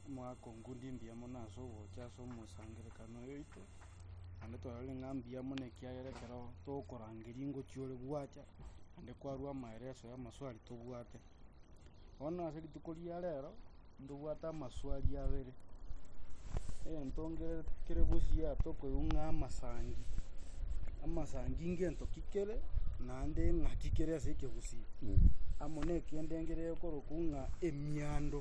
Omogaka o Ngundi mbuya mono ase ogocha ase omosangererekano oito, naende twarorire ng'a mbuya mono ekiagera ekero togokorangeria ingochia ore gwacha, naende kwarua amaereso ya amaswali tobwate. Bono ase rituko ria rero, ntobwate amaswali abere, egento nkere kere busiaa tokoigwa ng'a amasangi, amasangi ngento ki kere, naende ng'aki kere ase ekegusii. Amo na ekende nkerere okorokwa ng'a emiando.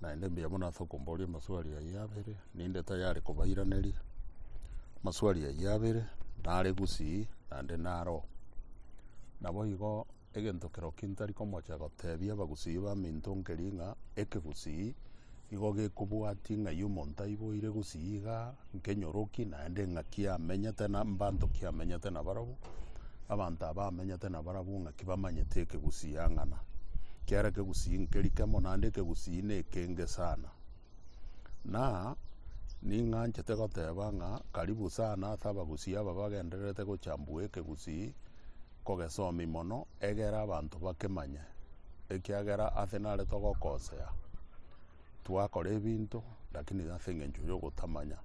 Naende mbuya mono ase okomboria amaswali ayio abere, ninde tayari kobairaneria amaswali ayio abere, nare gusii naende naro. Naboigo egento kerokia ntari komocha gotebia abagusii baminto nkeria ng'a ekegusii igo gekobwatia ng'ai omonto aiboire gusii igaa. nkenyoroki naende ng'aki amenyete na mbanto ki amenyete na barabwo abanto aba amenyete na barabwo ng'aki bamanyete ekegusii ang'ana kiara ekegusii nkeri kemo naende ekegusii na ekenge sana na ning'anchete goteba ng'a karibu sana ase abagusii aba bagendererete gochambua ekegusii kogesomi mono egere abanto bakemanye ekiagera ase narete ogokosea twakora ebinto lakini ase engencho ya ogotamanya.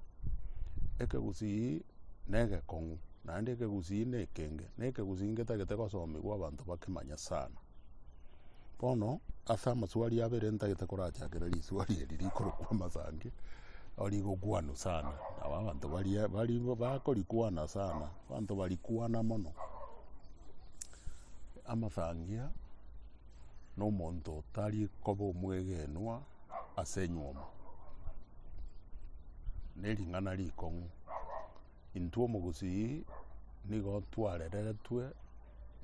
Ekegusii na egekong'u naende ekegusii na ekenge, na ekegusii ngetagete gosomigwa abanto bakemanye sana. Bono ase amaswali abere ntagete korachakera riswali eri rikorokwa amasangi, nabo rigokwanwa sana, nabo abanto baria bari bakorikwana sana, abanto barikwana mono amasangi aa. nomonto tari koba omwegenwa ase enywomo, nering'ana rikong'u. Intwe omogusii nigo twarereretwe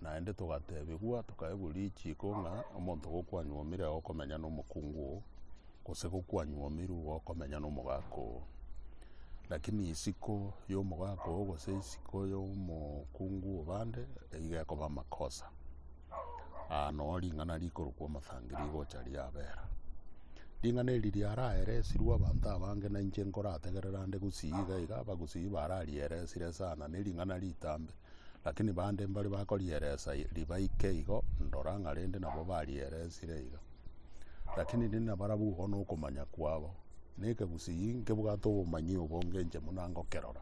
naende togatebigwa tokaegwa richiko ng'a omonto gokwanywomire nigo okomenya na omokungu oo, gose gokwanyomirwe nigo okomenya na omogaka oo. Lakini isiko ya omogaka oo gose isiko ya omokungu obande nigo ekoba amakosa. Aa noe ring'ana rikorokwa omosangi rigocha riabera. Ring'ana eri riaraeresirwe abanto abange na inche nkorategerera nde gusii iga iga abagusii bararieresire sana ne ring'ana ritambe. Lakini bande mbare bakorieresa ribaike igo ndora ng'a rende nabo barieresire iga. Lakini rinde nabarabwo igo na okomanya kwabo. Na ekegusii nkebwate obomanyi obonge inche buna ngokerora.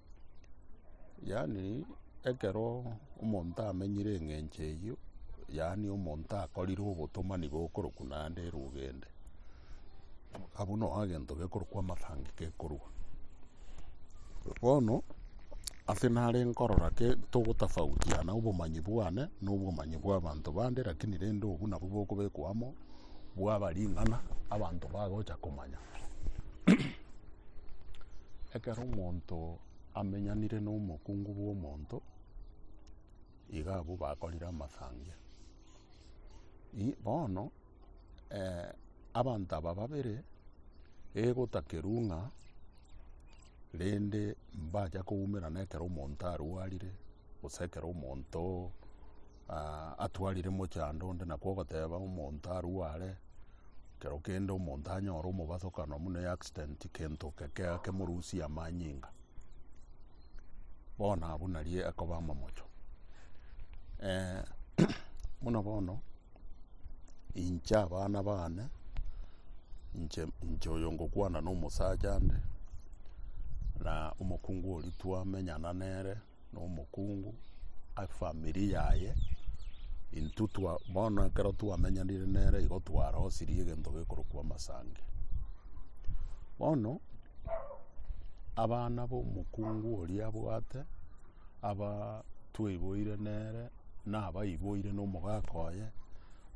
Yaani ekero omonto amenyire eng'encho eyio, yaani omonto akorire obotomani bokorokwa naende erogende, abwo noo egento gekorokwa amatangi gekorwa. Bono ase nare nkorora ki togotofautiana obomanyi bwane na obomanyi bwa abanto bande lakini rende obwo nabwo bokobekwa amo bwaba ring'ana abanto bagocha komanya Ekero omonto amenyanire nomokungu bw'omonto, iga abwo bakorire amasangia. I- bono eh, abanto aba babere egotakerwa ng'a rende mbacha koumerana ekero omonto arwarire, Gose ekero omonto atwarire mochando onde nakwo ogoteba omonto arue are ekero kende omonto anyore omobasokano buna eaccident kento kemorusie amanyinga bono abwo nari ekoba amamocho buna bono inche abana baane inche oyo ngokwana na omosacha nde na omokungu oria twamenyana nere. nomokungu efamiri yaye intwe twa bono ekero twamenyanire nere igo twarosirie egento gekorokwa amasangi. Bono abana b'omokungu oria abwate aba twaiboire nere nabaiboire na omogaka oye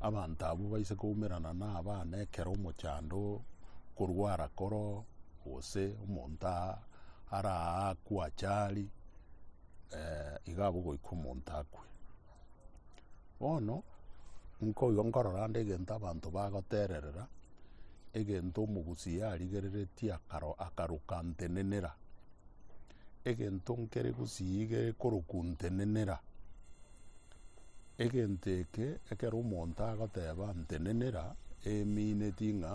abanto abwo baise koumerana na abana ekero omochando okorwara koro gose omonto aa. araakwe achari, eh, iga abwo goika omonto akwe. Bono, nkoigo nkorora ande egento abanto bagotererera, egento omogusi yarigereretie akaro akaroka ntenenera, egento nkere gusii iga ekoroku ntenenera. Egento eke, ekero omonto agoteeba, Ntenenera, emineti ng'a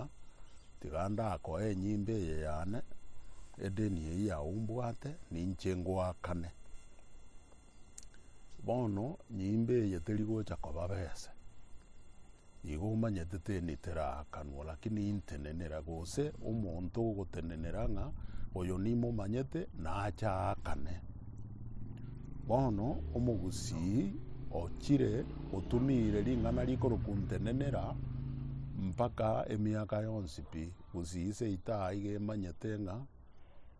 tiga ndakoe enyimbe eye yane, edeni eyio yao mbwate, ninche ngoakane. Bono nyimbe eye teri gocha koba bese. Nigo omanyete teni teraakanwa, lakini intenenera, gose omonto ogotenenera ng'a oyo nimomanyete, naache aakane. Bono omogusii ochire otumiire ring'ana rikorokwa ntenenera mpaka emiaka yonsi pi, gusii seito aiga emanyete ng'a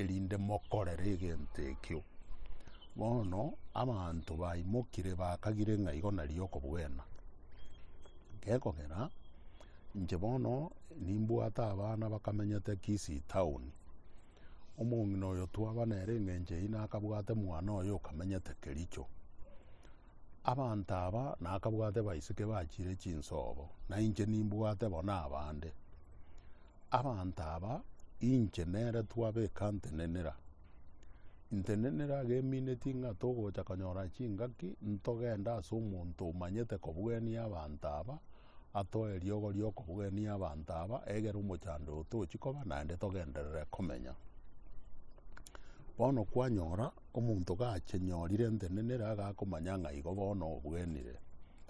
erinde mokorere egento ekio. Bono abanto baimokire bakagire ng'a igo nario okobwena. Gekogera inche bono nimbwate abana bakamenyete Kisii town, omong'ina oyo twaba nere eng'encho eyio nakabwate mwana oye okamenyete Kericho. Abanto aba nakabwate baiseke bachire chinsobo, nainche nimbwate bono abande. Abanto aba inche nere twabeka ntenenera. Ntenenera agemineti ng'a togocha konyora chingaki ntogende ase omonto omanyete kobugenia abanto aba atoe riogo ri'okobugenia abanto aba egere omochando oyo tochi koba naende togenderere komenya. Bono kwanyora omonto gache nyorire ntenenera agakomanya ng'a igo bono obugenire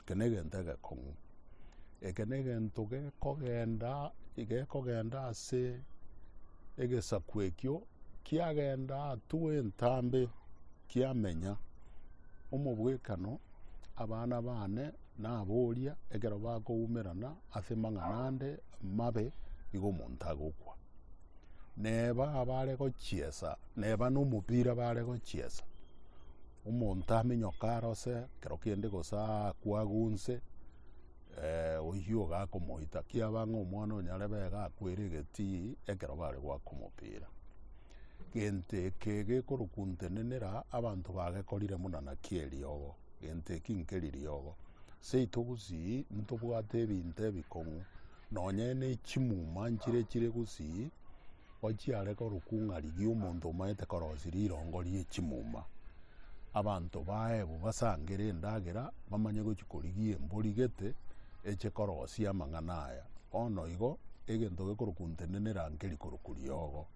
Eke negento egekong'u. Eke negento gekogenda gekogenda ase egesaku ekio kiagenda atwo entambe kiamenya omobwekano abana bane naboria ekero bakoumerana ase amang'ana ande amabe nigo omonto agokwa. Neba abare gochiesa neba nomopira bare gochiesa. Omonto amenyoke arose ekero kende gose aakwe agwo nse, oyio iga akomoita. Kiaba ng'a omwana oyo nyarebe iga akwere egetii ekero bare goaka omopira. Gento eke gekorokuntenenera abanto bagekorire buna naki eriogo, gento eki nkeriogo. Seito gusii ntobwate ebinto ebikong'u. Nonye nechimuma nchire chire gusii, ochiare korokung'a rigiya omonto omanyete korosia rirongo rie chimuma. Abanto baebo basangere endagera, bamanye gochia korigia embori gete eche korosia amang'ana aya. Bono igo, egento gekorokuntenenera nkeri korokwa riogo.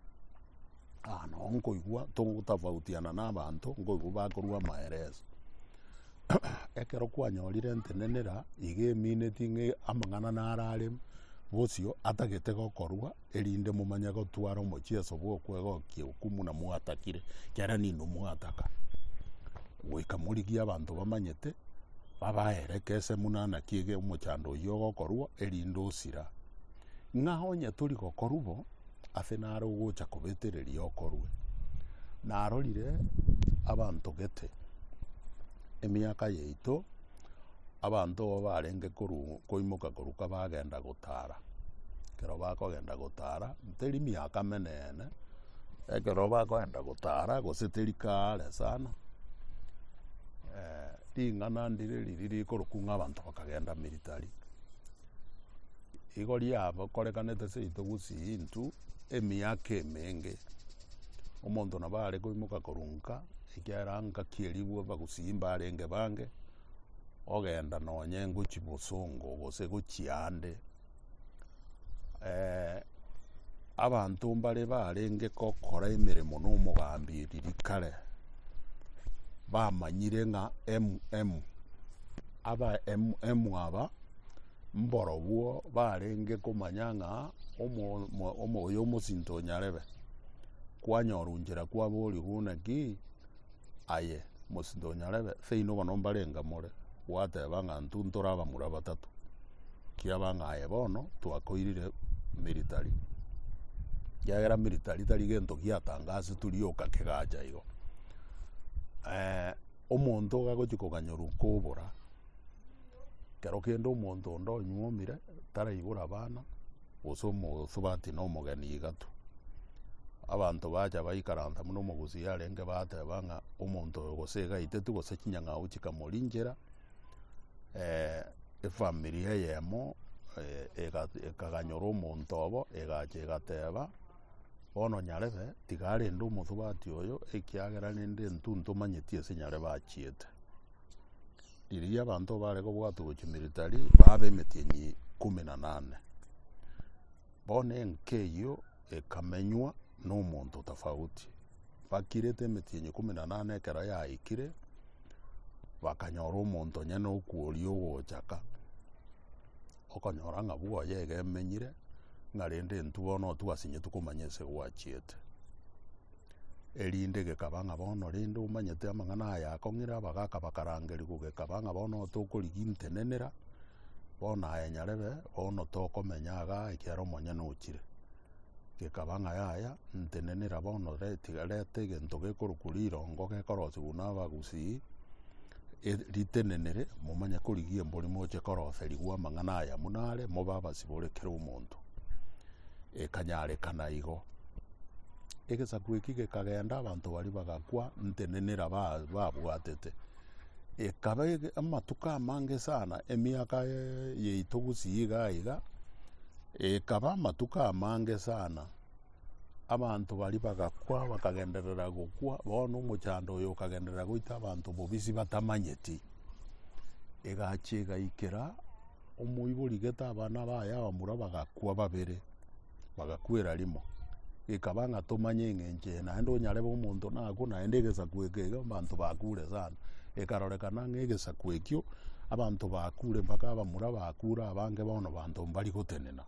Aa nao nkoigwa togotafautia na nabanto, nkoigwa bakorua amaereso. Ekero kwanyorire entenenera iga emineti ng'a amang'ana naro are bosio atagete gokorwa, erinde momanye gotwara omochieso bw'okwegokia hukumu na mwatakire, ekiagera ninwe mwataka, goika morigie abanto bamanyete, babaere ekese buna ana ki omochando oyio ogokorwa, erinde osira. Ng'a onye tori gokorwa bo. ase nare ogocha kobetereria okorwe. Narorire abanto gete emiaka yaito, abanto abwo barenge koru- koimoka koruka bagenda gotara, ekero bakogenda gotara, teri miaka meneene, ekero bakogenda gotara gose teri kare sana, ring'ana ndire riria rikorokwa ng'a abanto bakagenda military. Igo riakorekanete seito gusii intwe emiaka emenge, omonto nabo are koimoka korwa nka, ekiagera nka ki'erigwe bagusii mbarenge bange, ogenda nonye ngochia bosongo gose gochia ande. Abanto mbare barenge gokora emeremo n'omogambi eriri kare bamanyire ng'a MM aba MM aba mborobwo barenge komanya ng'a omo omo omo oyo omosinto onyarebe. Kwanyora onchera kwaboria buna ki? aye, mosinto onyarebe, seino bono mbarenga more, gwateba ng'a intwe ntore abamura batato, kiaba ng'a aye bono twakoirire military, ekiagera military tari gento giatanga ase turi oka kegacha igo. omonto iga agochi koganyorwa kobora, kero kende omonto onde onyuomire, taraibora abana. gose omosubati na omogeni igatu. Abanto bacha baikaransa buna omogusii arenge bateba ng'a omonto oyo gose iga aiteti gose chinyang'au chikamorinchera efamiri eyemo ekaganyora omonto obo egacha egateba bono nyarebe tiga arende omosubati oyo ekiagera rende intwe ntomanyeti ase nyare bachiete. Riria abanto baare kobwatwa gochia militari baba b'emetienyi ikomi na nane. Bono enka eyio ekamenywa na omonto tofauti. Bakirete emetienyi ikomi na nane ekero yaikire, bakanyora omonto onye na okoria ogochaka, okonyora ng'a bwoye bono iga emenyire, ng'a rende intwe bono otwasinyitigwe komanya ase gwachiete. erinde gekaba ng'a bono rende omanyete amang'ana aya akong'ira abagaka bakarangeriwa gekaba ng'a bono tokorigintenenera, bono aya nyarebe bono tokomenya igaa ekiagera omonyene ochire. Gekaba ng'a yaya ntenenera bono re- tiga reta egento gekorokwa rirongo gekorosiwa na abagusii, eri- ritenenere momanye korigia embori moche koroserigwa amang'ana aya buna are mobe abasibore kera omonto. Ekanyarekana igo. Egesaku eki gekagenda abanto baria bagakwa ntenenera babwatete. Ekaba amatuko amange sana emiaka yaito gusii iga iga ekaba amatuko amange sana abanto baria bagakwa bakagenderera gokwa bono omochando oyo okagenderera goita abanto bobisia batamanyeti. Egachia egaikera omoibori gete abana baye abamura bagakwa babere. bagakwera rimo. Gekaba ng'a tomanye eng'encho eye naende onyarebe omonto nakwo naende egesaku eke iga abanto bakure sana. Ekarorekana ng'a egesaku ekio abanto bakure mpaka abamura bakure abange bono abanto mbari gotenena.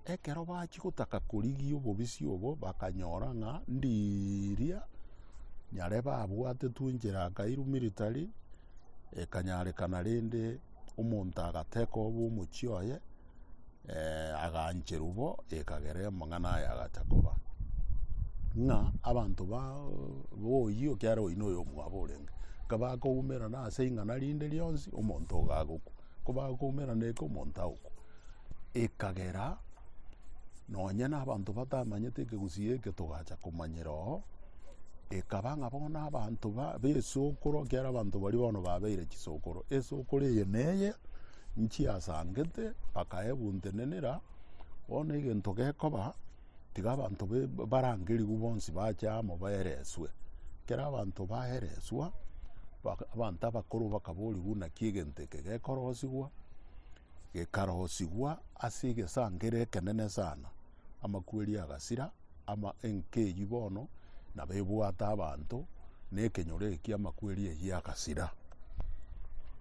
Ekero bachia gotaka korigia obobisia obo bakanyora ng'a ndiiria nyarebe abwate twinchire akairwa military ekanyarekana rende. Omonto agateka obe omochie oye, eh, agaancherwa bo, ekagera emong'ana aye agacha koba. Ng'a abanto ba boyio ekiagera oyio noyo omwabo orenge. Nka bakoumerana ase ring'ana rinde rionsi, omonto ogo agokwa. Ko bakoumerana eke omonto agokwa. Ekagera, nonye na abanto batamanyete ekegusii eke togacha komanyera oo. Ekaba ng'a bono abanto b'esokoro, ekiagera abanto baria bono babeire chisokoro, esokoro eye neye nchiasangete bakaebuntenenera, bono egento gekoba tiga abanto barangerigwe bonsi bache amo baereswe. Ekero abanto baereswa, abanto abakoro bakaboriwa buna ki egento eke gekorosigwa, gekarosigwa ase egesangere ekenene sana. Amakweri agasira, ama enka eyio bono nabo ebwate abanto, na ekenyoro ekio amakweri eyio agasira.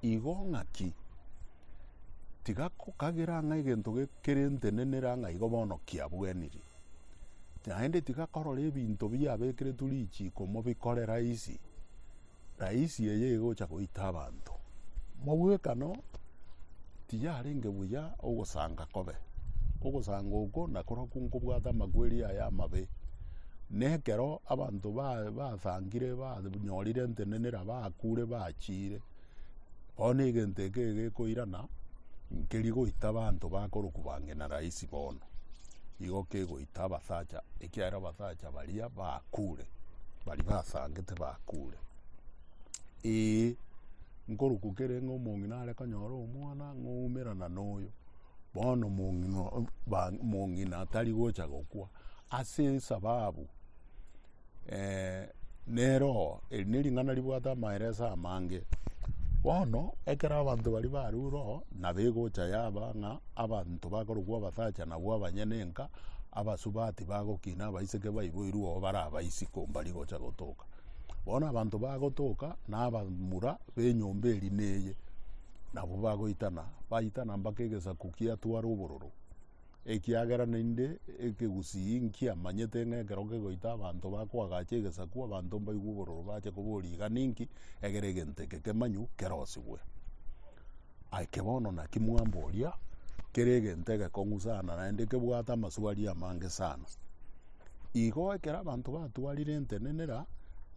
Igo ng'aki? Tiga kokagera ng'a egento ge- kere ntenenere ang'e igo bono kiabweniri. Naende tiga korora ebinto biabekeretwe richiko mobikore rahisi, Na isi eye igocha goita abanto mobwekano, tiyarenge buya ogosanga kobe. Ogosanga oko nakoro okwo nkobwate amakweri aye amabe. Na ekero abanto ba- basangire banyorire entenenera bakure bachiire. Bono egento eke gekoirana nkeri goita abanto bakorokwa ba ng'ina rahisi bono, igo kegoita abasacha, ekiagera abasacha baria bakure, baria basangete bakure. Ee, nkorokwa kere ng'a omong'ina are konyora omwana ng'oumerana na oyo, bono omong'ina tari gocha gokwa ase esababu Eh, neroho eri nering'ana ribwate amaereso amange bono ekero abanto bari barure roho nabegocha yaba ng'a abanto bakorokwa abasacha nabwo abanyene enka abasubati bagokina abaiseke baiboirwe oo bare abaisiko mbari gocha gotoka bono abanto bagotoka na abamura ba enyomba eri na eye nabwo bagoitana baitana mpaka egesaku kiatware obororo. Ekiagera naende ekegusii nkia manyete ng'a ekero kegoita abanto bakoagacha egesaku, abanto mbaigwe obororo bache koboria iga ninki, egere egento eke kemanyu kerosigwe. Ake bono naki mwamboria kere egento egekong'u sana naende kebwate amaswali amange sana. Igo ekero abanto batwarire entenenera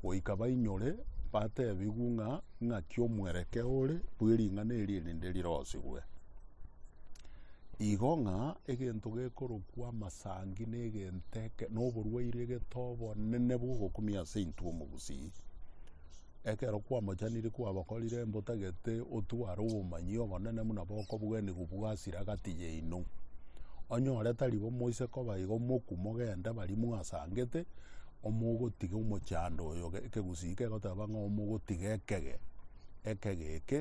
goika bainyore batebiwu ng'a ng'aki omwerekeo ore bwe ring'ana eri erinde rirosigwe. Igo ng'a egento gekorokwa amasangi na egento eke na oborwaire egete obonene bogokumia ase intwe omogusii. Ekero kwamochaniri kwabakorire mbotagete otware obomanyi obonene buna bokobugenigwa bwasira agati yaino. Onyore tari bo moise koba igo moku mogende baria mwasangete omogotiga omochando oyo ekegusii kegoteba ng'a omogotiga ekege ekege eke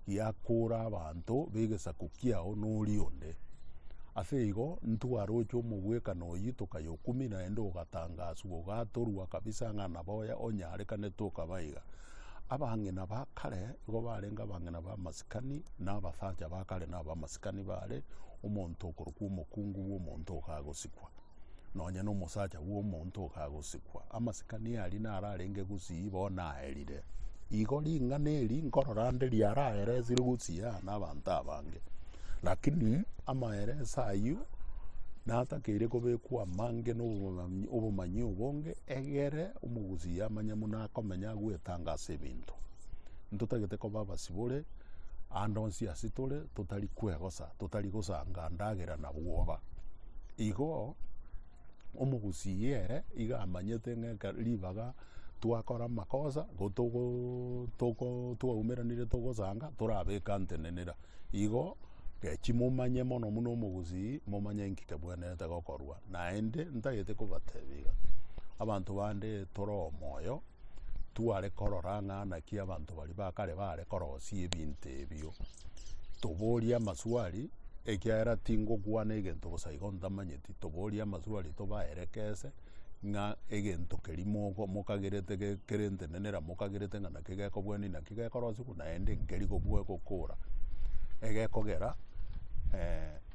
giakoora abanto b'egesaku kiao noria onde. Ase igo ntwaroche omogwekano oyio tokayokumia, naende ogatangaswa, ogatorwa kabisa ng'a nabo oye onyarekane tokaba iga. Abang'ina ba kare igo barenge abang'ina b'amasikani, na abasacha ba kare nab'amasikani baare, omonto okorokwa omokungu bw'omonto ogagosikwa. Nonya nomosacha bw'omonto okagosikwa, amasikani aria nararenge gusii bo naerire. Igo ring'ana eri nkorora nde riaraeresire gusii aa n'abanto abange. Lakini amaereso ayio natakeire kobekwa amange n'obomanyi obomanyi obonge, egere omogusii amanye buna akomenya agwetanga ase ebinto. Ntotagete koba abasibore ande onsi ase tore, totari kwegosa, totari gosanga ndagera na bwoba. Igo omogusii ere iga amanyete ng'a ekero ribaga twakora amakosa igo togo togo twaumeranire togosanga torabeka ntenenera. Igo gechi momanye mono buna omogusii momanye nki kebwenerete gokorwa naende ntagete kobatebia iga abanto bande toro omoyo. tware korora ng'a naki abanto baria ba kare baare korosia ebinto ebio. Toborie amaswali, ekiagera tingokwana egento bosa igo ntamanyeti, toborie amaswali tobaerekese ng'a egento keria mogo- mokagerete ge- kere entenenera mokagerete ng'a naki gekobwani naki gekorosiwa naende nkeri gokwa- gokora, egekogera.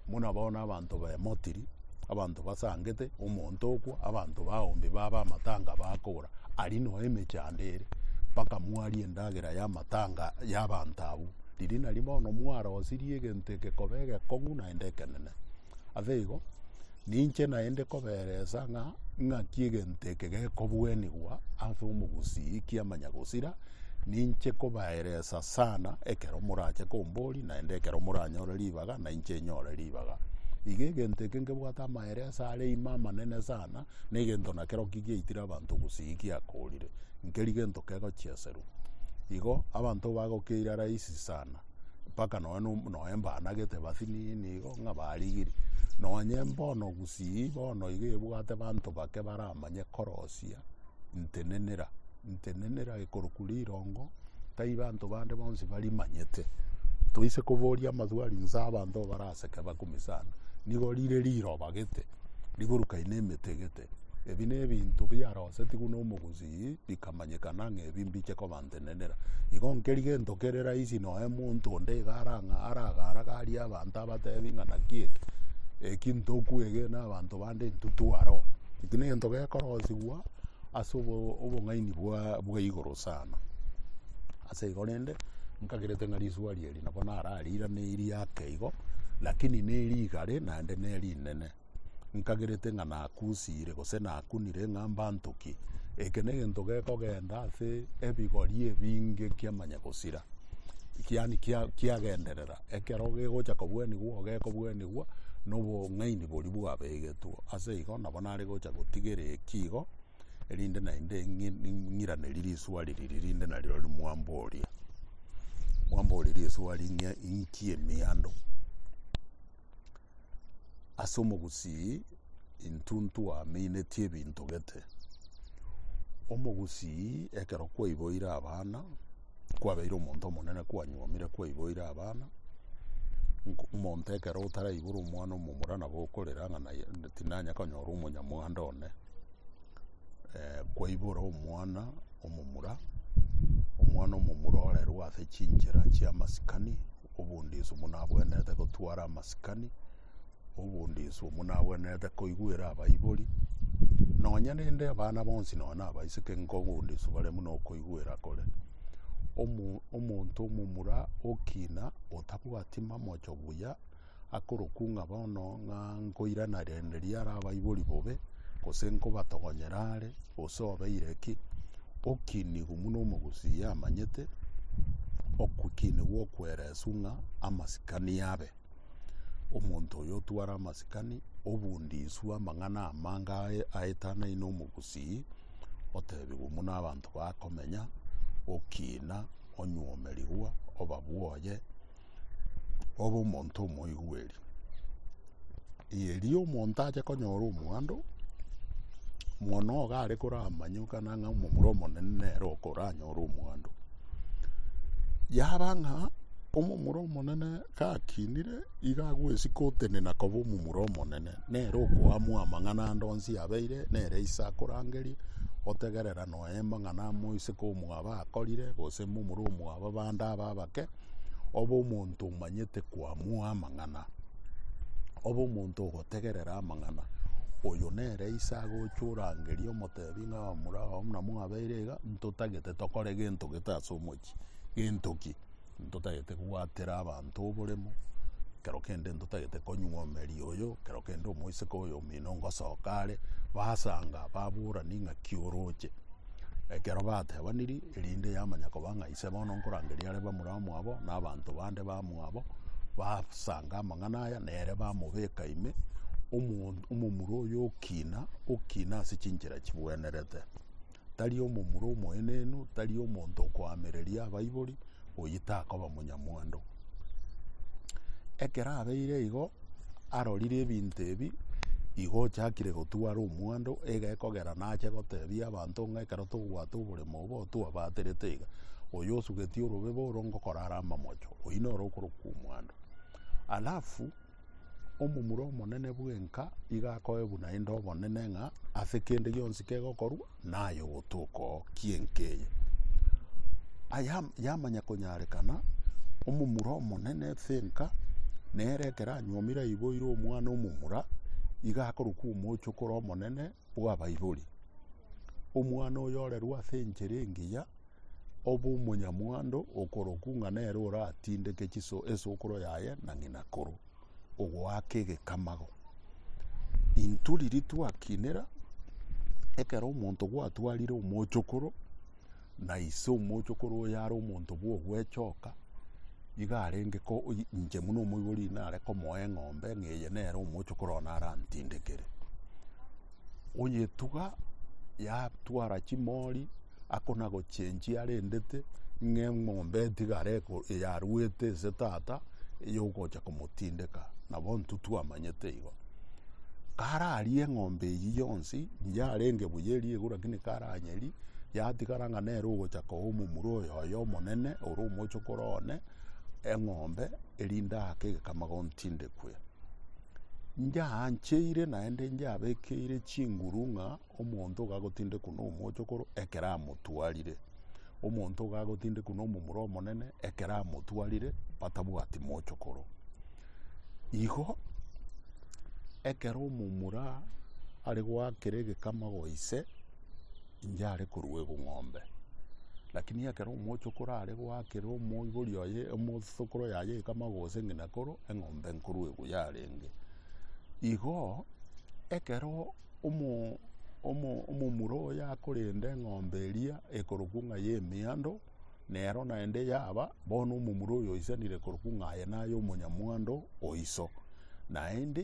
Buna bono abanto bemotiri, abanto basangete, omonto okwa, abanto baombi babe amatanga bakogora, aria noe emechando ere, mpaka mwarie endagera y'amatanga y'abanto abwo. Riria nari bono mwarosirie egento egekoba egekong'u naende ekenene. Ase igo, ninche naende koberesa ng'a ng'aki egento eke gekobuanigwa ase omogusii kiamanya gosira, ninche kobaeresa sana ekero morache komboria naende ekero moranyore ribaga. ribaga na inche enyore ribaga. Iga egento eke nkebwate amaere ase are ime amanene sana, na egento nakero ki giaitire abanto gusii giakorire, nkeri gento kegochieserwa. Igo abanto bagokeire rahisi sana, mpaka nonya no- nonya mbanagete bathinini igo ng'a barigirie. Nonya mbono gusii bono iga ebwate abanto bake baramanye korosia ntenenera Ntenenera gekorokwa rirongo, taibo anto bande bonsi barimanyete. Toise koboria amadwari inse abanto baraseke bakume sana. Nigo rire riroba gete, rigorukaine emete gete. Ebi ne ebinto biarosetigwe na omogusii bikamanyekana ng'a ebi mbiche koba ntenenera. Igo nkeri gento kere rahisi nonya omonto onde iga arang'a aragaragarie abanto abatebi ng'a naki eke, eki ntokwegena abanto bande intwe tware oo. Eki nento gekorosigwa. ase obo- obong'aini bwa bwa igoro sana. Ase igo rende, nkagerete ng'a risuari eri nabo narariirane riake igo, lakini ne rigare naende ne rinene. Nkagerete ng'a nakusiire gose nakunire ng'a mbantokie. Eke na egento gekogenda ase ebigori ebinge kiamanya gosira, kiani kia- kiagenderera. Ekero gegocha kobwenigwa igo gekobwenigwa na obong'aini boria bwabegetwe. Ase igo nabo nare gocha gotigera eki igo, erinde naende ng'i- ng'i- ng'iraneri risuari riria rinde nario riria mwamboria. Mwamboria risuari ng'a inki emiando? Ase omogusii intwe ntwaminetie ebinto gete. Omogusii ekero kwaiboire abana. Kwabeire omonto omonene kwanyuomire kwaiboire abana, nk- omonto ekero otaraibora omwana omomura nabo okorera ng'a naye tinanya konyora omonyamwando one. Eh, kwaibora omwana omomura, omwana omomura orerwe ase chinchera chi'amasikani, obondiso buna abwenerete gotwara amasikani. Obondo inse omo nagwenerete koigwera abaibori, nonya rende abana bonsi nonya na abaiseke nigo obondo inse bare buna okoigwera kore. Omo- omonto omomura okina otabwati mamocho buya, akorokwa ng'a bono ng'a nkoirana rende riare abaibori bobe, gose nkobatogonyera are, gose obeire ki, okinigwa buna omogusii amanyete, okokinigwa okwereswa ng'a amasikani abe. Omonto oyo otware amasikani, obundi iswe amang'ana amange ae- aetanaine na omogusii, otebigwe buna abanto bakomenya, okina, onywomerigwa, obabwoye, obe omonto omoigweri. Erio omonto ache konyora omwando, mono iga are koramanye buna ng'a omomura omonene nere okoranyore omwando. Yaba ng'a omomura omonene. Gakinire, iga agwesika otenena koba omomura omonene, nere okoamwa amang'ana ande onsi abeire nere ise akorangerie, otegerera noe amang'ana amoiseke omwabo akorire, gose momura omwabo bande abe abake, obe omonto omanyete koamwa amang'ana, obe omonto ogotegerera amang'ana. Oyo nere ise agocha orangerie omotebi ng'a omomura oo buna mwabeire iga, ntotagete tokore gento gete ase omochie. Gento ki? Ntotagete kobwatera abanto oboremo, ekero kende ntotagete konywa omerio oyo, ekero kende omoiseke oyo omino ngosoka are, basanga baborani ng'a ki oroche. Ekero batebaniri, erinde yamanya koba ng'a ise bono nkorangeria are bamura mwabo, na abanto bande ba mwabo, basanga amang'ana aya, nere bamobeka ime, omo omomura oyo okina, okina ase chinchera chibwenerete. tari omomura omoenenu, tari omonto okoamereria abaibori, oyio takoba monyamwando. Ekero abeire igo, arorire ebinto ebi, igo ochakire gotwara omwando, iga ekogera nache gotebia abanto ng'a ekero togwata oboremo obo otwabaterete iga, oyo osugeti orobebe oro ngokorara amamocho, oyio noro okorokwa omwando. Alafu. Omomura omonene bwenka iga akoe buna aende obonene ng'a ase kende gionsi kegokorwa naye ogotoka oo kienka eye. Aya yamanya konyarekana omomura omonene bwenka nere ekero anyuomire aiboire omwana omomura iga akorokwa omochokoro omonene bw'abaibori. Omwana oyo orerwa ase enchera engiya ob'omonyamwando okorokwa ng'a nere oratindeke chiso esokoro yaye na ng'inakoro, ogoaka egekamago. Intwe riria twakinera, ekero omonto gwatwarire omochokoro, na ise omochokoro oyo are omonto bw'ogwechoka, iga arenge ko inche buna omoibori nare komoa eng'ombe ng'a eye nere omochokoro one arantindekere. Oyetuga yatwara chimori. Ako nagochenchia arendete ng'a eng'ombe etigare yaruete ase tata eyogocha komotindeka nabo intwe twamanyete igo. Kare aria eng'ombe eywo yonsi yarenge buya eria igoro lakini kare anyeria yatigara ng'a nere ogocha koba omomura oyoyo omonene ore omochokoro one eng'ombe erinde aake egekama gontindekwe. Nyaancheire naende nyabekeire chinguru ng'a. Omonto iga agotindekwa n'omochokoro ekero amotwarire, omonto iga agotindekwa n'omomura omonene ekero amotwarire batabwati mochokoro. Igo ekero omomura are goakera egekama goa ise, inche are koruegwa eng'ombe. Lakini ekero omochokoro are goakera omoibori oye, omosokoro yaye egekama gose ng'ina koro, eng'ombe nkoruegwa yarenge. Igo ekero. Omomura oye akorenda eng'ombe eria ekorokwa ng'a y'emeando, nero naende yaba, bono omomura oyo oisanire korokwa ng'a aye naye omonyamwando o iso. Naende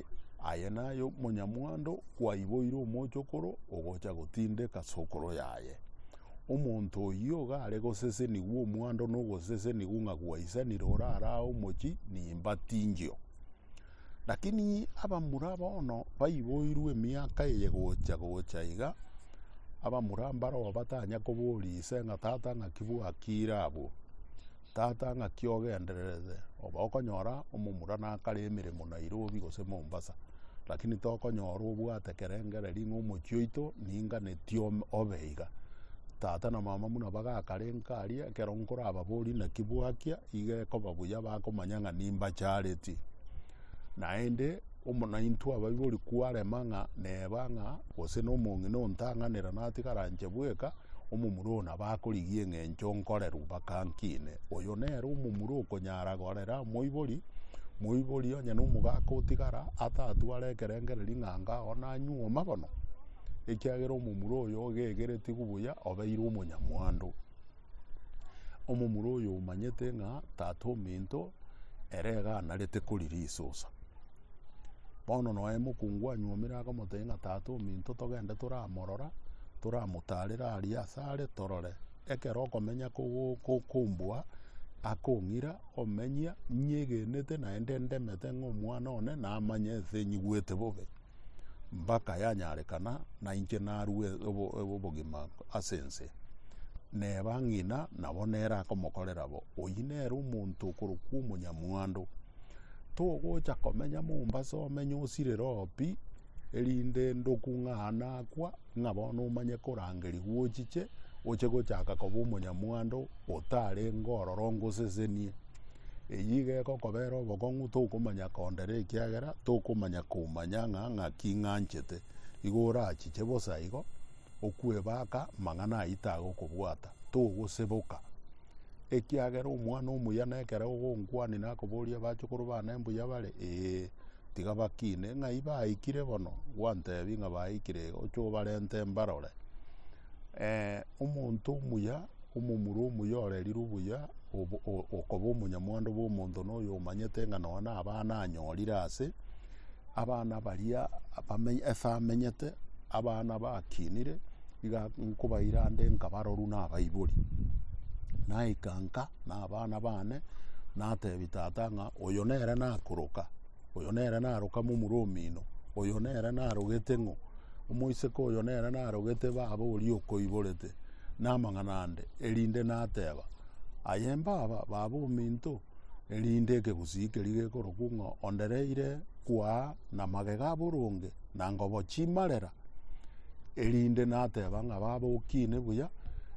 aye naye omonyamwando kwaiboire omochokoro ogocha gotindeka sokoro yaye. Omonto oyio iga are gosesenigwa omwando na ogosesenigwa ng'a gwaisanire orare aa omochie nimbatingio. Lakini abamura bono baiboirwe emiaka eye gocha-gocha iga, abamura mbaroo batanya koboria ise ng'a tata ng'aki bwakiire abwo? Tata ng'aki ogendererete? Oba okonyora omomura nakare emeremo Nairobi gose Mombasa, lakini tokonyora obwate kerengererio ng'a omochie oito. Ninganeti obe iga. Tata na mama buna bagakarenka aria, ekero nkorababorie naki bwakia, iga ekoba buya bakomanya ng'a nimbachareti. Naende omo naintwe abaibori kwarema ng'a neba ng'a gose na omong'ina ontang'anera natigara nche bweka, omomura oyo nabo akorigia eng'encho nkorerwa, bakankine. Oyo nere omomura okonya. Nyara gorera omoibori, moibori onye na omogaka otigara atatware ekerengererio ng'a anga oo nanyuo amagono, ekiagera omomura oyo ogegeretigu buya obeirwe omonyamwando. Omomura oyo omanyete ng'a tata ominto ere iga anarete korira esosa. Bono noe mokungu anyuomire akamotebia ng'a tata ominto togende toramorora, toramotarere aria asare torore. ekero okomenya kogo- ko- komboa ake ong'ira omenya nyegenete naende ndemete ng'a omwana one namanye ense nyigwete bobe mpaka yanyarekana nainche narue obo- obo- obogima ase ense. Neba ng'ina nabo nere akomokorera bo. Oyio nere omonto okorokwa omonyamwando. Togocha komenya Mombasa omenye osirere oo pi, erinde ndokung'aane akwa, ng'a bono omanye korangeria gwochiche, oche gochaka koba omonyamwando otarenge ororo ngosesenie. Eyio iga egokobera obokong'u tokomanya kondera ekiagera tokomanya komanya ng'a ng'aki ng'anchete. Igo orachiche bosa igo, okwebaka amang'ana ayio tagokobwata, togoseboka. Ekiagera omwana omuya nekero ogonkwania nakoboria abachukuru bane mbuya bare, ee. Tiga bakine ng'ai baikire bono, gwantebi ng'a baikire iga, oche obarente mbarore. Eh, omonto omuya, omomura omuya ore riria obuya, obo- o- okoba omonyamwando bw'omonto na oyo omanyete ng'a nonya na abana anyorire ase, abana baria abame- ase amenyete, abana bakinire. iga nkobaira ande nkabaroru na abaibori naika nka na abana bane natebi tata ng'a oyo nere nakoroka oyo nere naroka momura omino oyo nere narogete ng'o omoiseke oyo nere narogete baba oria okoiborete na amang'ana ande erinde nateba aye mbaba baba ominto erinde ekegusii keri gekorokwa ng'a ondereire kwaa na magega aboronge na ngobo chimarera. erinde nateba ng'a baba okine buya,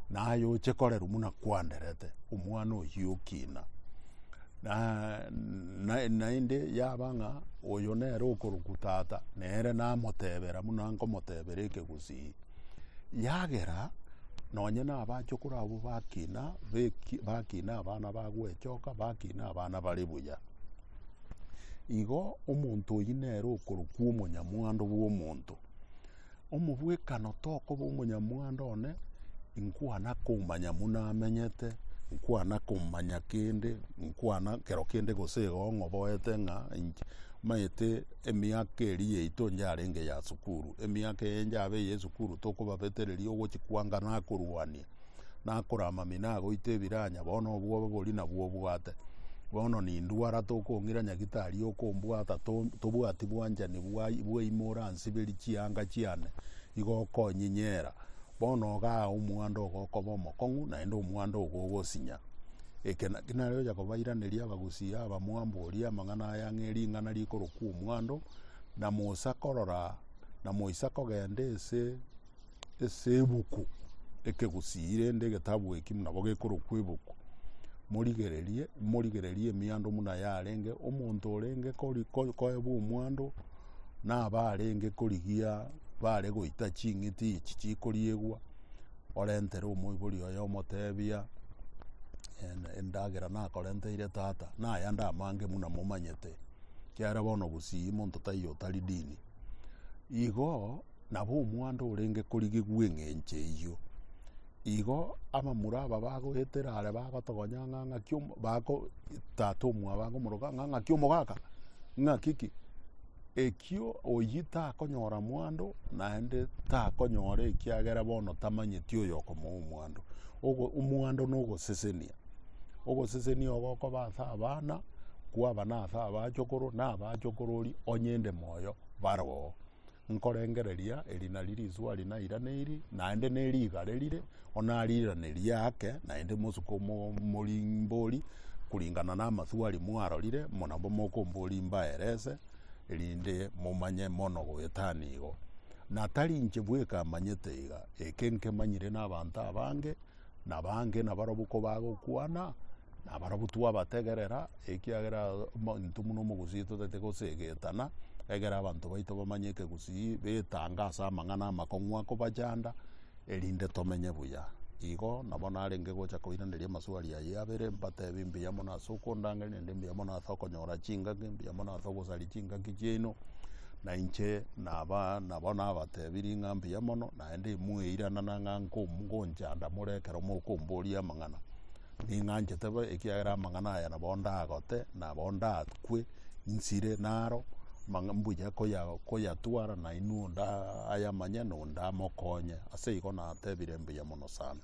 naye oche korerwa buna kwanderete omwana oyio okina. Na na- naende yaba ng'a oyo nere okorokwa tata, nere namotebera buna nkomotebera ekegusii. Yagera nonye na abachokoro abwo bakina beki bakina abana bagwechoka, bakina abana bare buya. Igo omonto oyio nere okorokwa omonyamwando bw'omonto. Omobwekano tokoba omonyamwando one, inkwana komanya buna amenyete, inkwana komanya kende, inkwana kero kende gose igo ng'oboete ng'a inche maete emiaka eria yaito yarenge ya sukuru, emiaka eye yabe ya esukuru tokobabetereria ogochia kwanga nakorwania. nakore amamino agoite ebiranya bono obwoba boria nabwo obwate bono nindwara tokong'ira nyagitari okombwata to- tobwati bwanchani bwai- bwaimo oransiberie chianga chiane igo okonyinyera bono igaa omwando ogo okoba omokong'u naende omwando ogo ogosinya eke naki nare ogocha kobairaneria abagusii aba mwamboria amang'ana aya ng'a ering'ana rikorokwa omwando na mosa korora na moisa kogenda ase ase ebuku eke gusii rende egetabu eki buna bo gekorokwa ebuku, morigererie, morigererie emiando buna yarenge, omonto orenge kori- ko- koebwa omwando, na abarenge korigia bare goita ching'iti echi chikoriegwa, orentere omoibori oye omotebia, en- endagera nakorenteire tata, naya nde amange buna momanyete, ekiagera bono gusii monto taiyo otari dini. Igo. Nabo omwando orenge korigigwa eng'encho eyio. Igo abamura aba bagoetera are bagotogonya ng'a ng'aki omo- bago tata omwabo agomoroka ng'a ng'aki omogaka ng'aki ki ekio oyio takonyora mwando naende takonyora ekiagera bono tamanyeti oyo okomoa omwando. Ogo- omwando na ogosesenia, ogosesenia ogo okoba ase abana kwabana ase abachokoro na abachokoro oria onye inde moyo baroo. nkorengereria eri nari rizwari nairaneiri, naende ne rigare rire, onariranerie ake, naende mosuke omo- omorimbori kuringana na amaswari mwarorire, muna mokombori mbaerese, erinde momanye mono goetana igo. Na tari inche bweka manyete iga, eke nkemanyire na abanto abange. nabange nabarobwo kobagokwana, nabarobwo twabategerera, ekiagera into buna omogusii totaete gosegetana, egere abanto baito bamanye ekegusii, betange ase amang'ana amakong'u akobachanda, erinde tomenye buya. Igo nabo narenge gocha koiraneria amaswali ayio abere, mbatebie mbuya mono ase okondangeria, naende mbuya mono ase okonyora chingaki, mbuya mono ase ogosaria chingaki chiaino, nainche naba nabo nabatebirie ng'a mbuya mono. Naende imweiranana ng'a nkonchanda more ekero mokomboria amang'ana. Ning'anchete bo, ekiagera amang'ana aya nabo ndagote, nabo ndakwe nsire naro, mang'a- mbuya koya- koyatwara nainwe onde a- ayamanye na onde amokonye. Ase igo natebire mbuya mono sana.